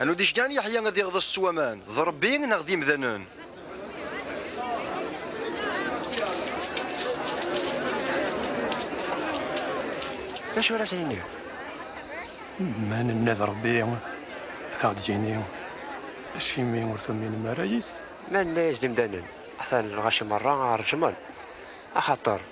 Anu d-icgan Yeḥya ad iɣḍes s waman, d Ṛebbi neɣ d imdanen? D acu ara s-nini? Ma nenna d Ṛebbi, ad aɣ-d-yini, Acimi ur tuminem ara yis-s? Ma nenna-yas d imdanen, atan lɣaci meṛṛa ṛejmen, axaṭer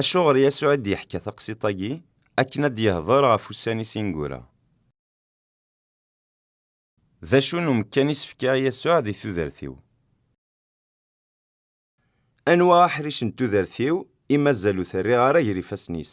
Acuɣer Yasuɛ i d-yeḥka taqsiṭ-agi? Akken ad d-yehder ɣef ussan-is ineggura. D acu n umekkan i s-fkiɣ Yasuɛ di tudert-iw? Anwa aḥric n tudert-iw i mazal ur t-rriɣ ara gar ifassen-is?